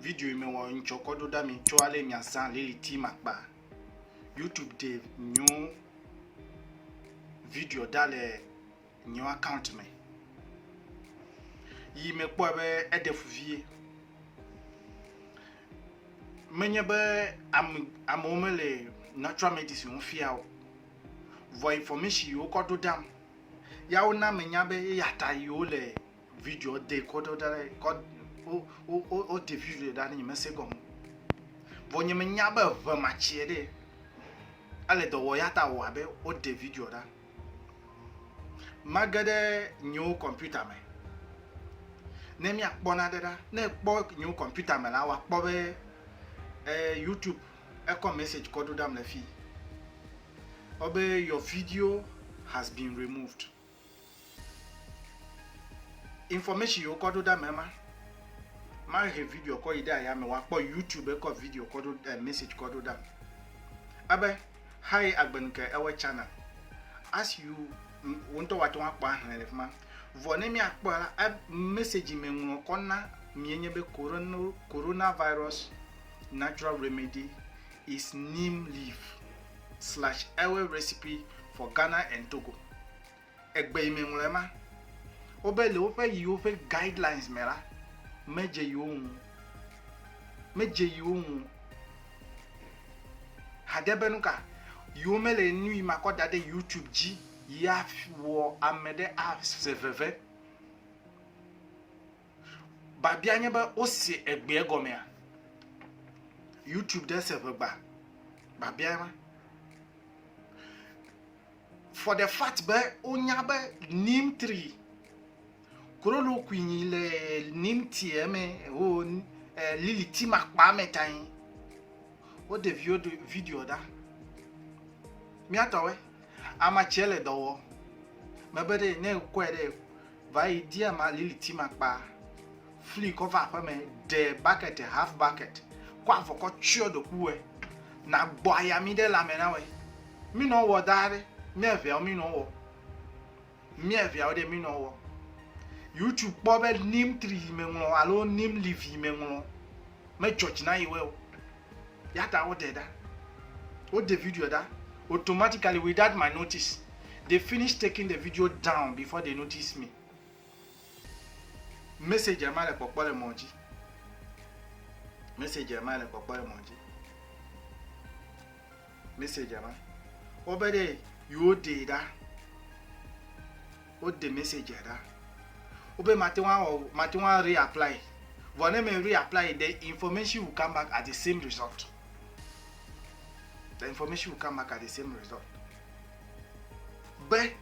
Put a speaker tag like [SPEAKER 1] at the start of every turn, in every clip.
[SPEAKER 1] Video yi mewɔ ŋtsɔ kɔ ɖo ɖa mi tsɔ ale miazã liliti makpa. YouTube de nyo video ɖa le nyo account me. Yi mekpɔe be eɖe fu vie. Menye be ame amewo mele natural medicine fia o. Vɔ information yi wokɔ ɖo ɖam ya wona menya be eya ta yi wole Video de kɔ ɖo ɖa ɖe kɔ o o o o de video ɖa ne nye mese gɔme. Vɔ nye menya be ʋe ma tsie ɖe. Ale dɔ wɔ ya ta wɔ abe o de video ɖa. Mage ɖe nyewo kɔmputa me. Ne mia kpɔ na ɖe ɖa ne kpɔ nyewo kɔmputa me la wa kpɔ be e YouTube ekɔ message kɔ ɖo ɖam le fi. Obe your video has been removed. Information yiwo kɔ ɖo ɖe ame ma, ma he video kɔ yi ɖe aya me wòakpɔ YouTube kɔ video kɔ ɖo eh, message kɔ ɖo ɖam. Ebe haye agbenu ke ewe channel. As you wo ŋutɔ wate ŋu akpɔ ahlẽ le fi ma. Vɔ ne míakpɔ la, e, message me ŋlɔ kɔ na mienye be coronavirus natural remedy is neem leaf slash ewe recipe for Ghana and Togo. Egbe yi me ŋlɔ ema. Wobe le woƒe yiwo ƒe guidelines me la, medze yiwo ŋu. Medze yiwo ŋu. Hade be nu ka? Yiwo mele nu yi makɔ da ɖe YouTube dzi yi awɔ ame ɖe aze veve. Babia nye be wose egbea gɔmea? YouTube ɖe se ʋegba. Babia ma. For the fact be wonya be neem tree korolo kuinyi le neem tea me ho eh, lili ti makpa me tanyi. Wode video ɖa. Miatɔwe. Ama tsɛ le dɔ wɔ. Mebe ɖe ne ekɔɛ ɖe vayi di ama lili ti ma kpa, fli kɔ va aƒeme, ɖe bucket half bucket kɔ avɔ kɔ tsyɔ ɖokuiwɛ na gbɔ ayami ɖe lãme na wɛ. Mi nɔ wɔ da ɖe, ne eŋɛɔ mi nɔ wɔ. mía viawo ɖe minɔ wɔ yutsu kpɔ be nim tri yi me ŋlɔ alo nim livi yi me ŋlɔ medzɔ dzi na yewe o ya ta woɖe ɖa woɖe video ɖa automatically without my notice they finish taking the video down before they notice me message ma le kpɔkpɔ le mɔ dzi message ma le kpɔkpɔ le mɔ dzi mɛsɛdzia ma. Wobe ɖe yewoɖee ɖa. Woɖe mɛsɛdzia ɖa. Wobe mate ŋu awɔ o, mate ŋu areapply. Vɔ ne me reapply, the information will come back as the same result. The information will come back as the same result. Be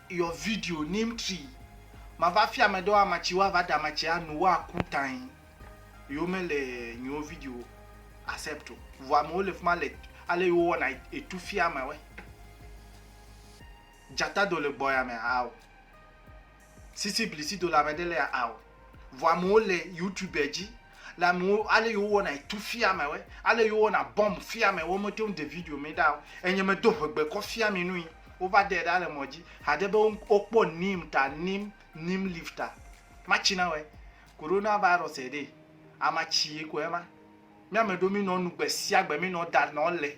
[SPEAKER 1] your video neem tree mava fia ame ɖewo amatsi woava ɖa amatsi anu woaku tae yewo mele nyewo video accept o vɔ amewo le fima le ale yewo wɔna etu fia amewɛ dzata do le gbɔ ya me ao sisi blisi do le ame ɖe le ao Vɔ amewo le youtube dzi le amewo ale yewo wɔna etu fia me we ale yewo wɔna bɔm fia me wo mete ŋu de video mi ɖa o enye me do ʋegbe kɔ fia mi nui wova de ɖa le mɔ dzi haɖe be wokpɔ nim ta nim nim live ta matsi na we corona virus eɖe amatsi ye ko ema mi ame ɖewo mi nɔ nu gbe sia gbe mi nɔ da nɔ le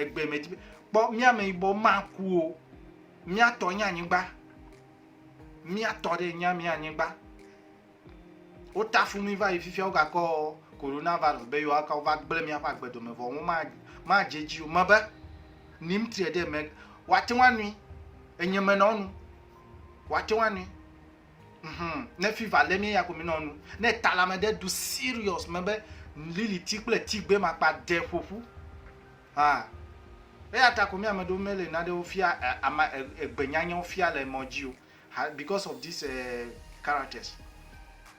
[SPEAKER 1] egbe me dzi be kpɔ mía ameyibɔ maku o mía tɔ nye anyigba mía tɔ ɖe nye mía anyigba wota fu mi va yi fifia wogakɔ coronavirus be yewoaka wova gblẽ míaƒe agbedome vɔ wo madze dzi o mebe nim tre ɖe me wate ŋu anui enye menɔnu wate ŋu anui Hum, ne fever le mía ya ko mi nɔ nu. Ne talame ɖe ɖu serious me be liliti kple tigbe makpa ɖe ƒoƒu. Ah. Eya ta ko mi ame ɖewo mele naɖewo fia eh, ama eh, egbenyanyawo fia le mɔ dzi o. Because of this uh, characters.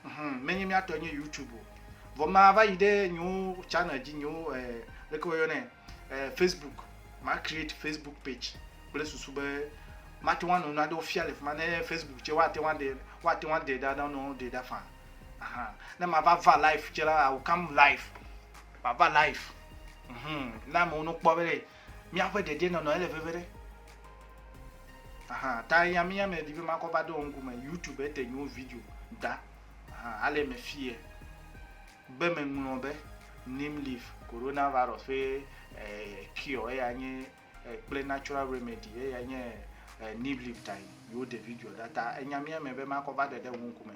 [SPEAKER 1] Hum, menye mía tɔ nye YouTube o. Vɔ ma va yi ɖe nyewo channel dzi nyewo eh, leke woyɔnɛ eh, Facebook. Ma create Facebook page. kple susu be mate ŋu anɔ naɖewo fia le fi ma ne facebook tse woate ŋu aɖe woate ŋu aɖe ɖa nɔ ɖe ɖa fa ahan ne mava va life tse la awo kam life mava life mhm na amewo no kpɔ be míaƒe dedienɔnɔ ele veve ɖe ahan ta ya mi ya me di be makɔ va ɖe wo ŋkume youtube ete nyo video da ahan ale me fie be meŋlɔ be nim leaf coronavirus ƒe eh, cure eya nye kple natural remedy eyae nye neem leaf tae yewo ɖe video ɖa ta enya mía me be makɔ va ɖe ɖe wo ŋkume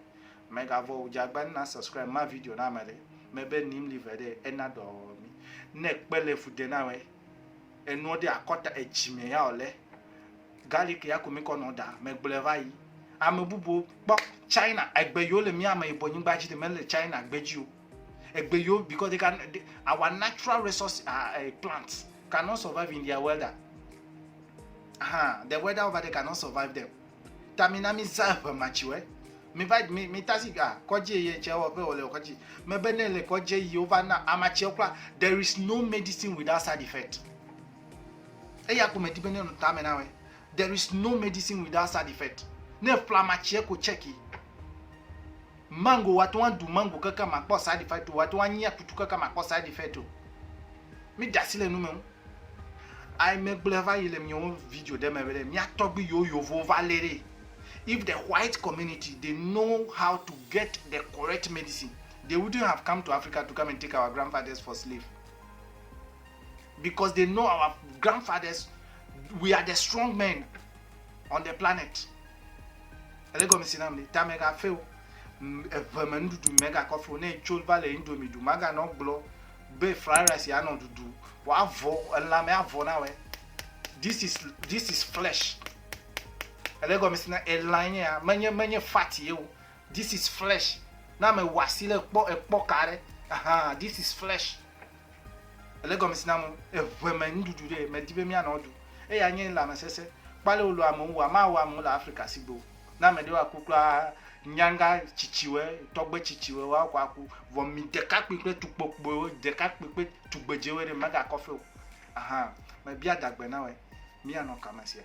[SPEAKER 1] megavɔ o dzagba na subscribe ma video na ame ɖe mebe neem leaf ɖe ena dɔ mi ne kpe le fu de na we enuɔ ɖe akɔta edzi me ya ole garlic ya ko mi kɔ nɔ da megblɔ va yi ame bubu kpɔ china egbe yewo le mía me yibɔ nyigba dzi de mele china gbe dzi o Egbe yo because they can they, our natural resource uh, uh, plants cannot survive in their weather. Uh-huh. The weather over there cannot survive them. Tamina mi za eƒe matsiwe. Mi va mi mi tasi ah kɔdzi ye tse wɔ ƒe wòle kɔdzi. Mebe ne le kɔdzi yi wova na amatsiwo kura. There is no medicine without side effect. Eya ko medi be ne nu tame na we. There is no medicine without side effect. Ne flamatsie ko cheki. Mango wate ŋu aɖu mango keke makpɔ side effect o, wate ŋu anyi akutu keke makpɔ side effect o. Míɖe asi le nu me ŋu. Ayi megblɔe va yi le míawo video ɖe me be ɖe mía tɔgbui yiwo yovowo va lé ɖee. If the white community they know how to get the correct medicine they wouldn't have come to Africa to come and take our grandfathers for slave because they know our grandfathers we are the strong men. on the planet ele gɔme si nam ni ta mega fe o eve me nuɖuɖu mega kɔfe o ne tso va le indomie ɖu maga nɔ gblɔ be fried rice ya nɔ ɖuɖu wa avɔ elã me avɔ na wɛ this is this is flesh ele gɔme si na elã nye ya menye menye fat ye o this is flesh na me wasi le kpɔ ekpɔ ka ɖe aha this is flesh Ele gɔmesi na mo, eŋe me nuɖuɖu ɖe me di be mía nɔ du, eye anye lãme sese kpaleo lo amewo wua ma wɔ amewo le Afrika sigbo. Ne ame ɖewo aku kura a nyanga tsitsiwe, tɔgbe tsitsiwe woa kɔ aku, vɔ mi ɖekakpui kple tukpokpuiwo, ɖekakpui kple tugbedzewe ɖe mega kɔfe o. Ahan, me bia dagbe na wɛ, mía nɔ kame sia.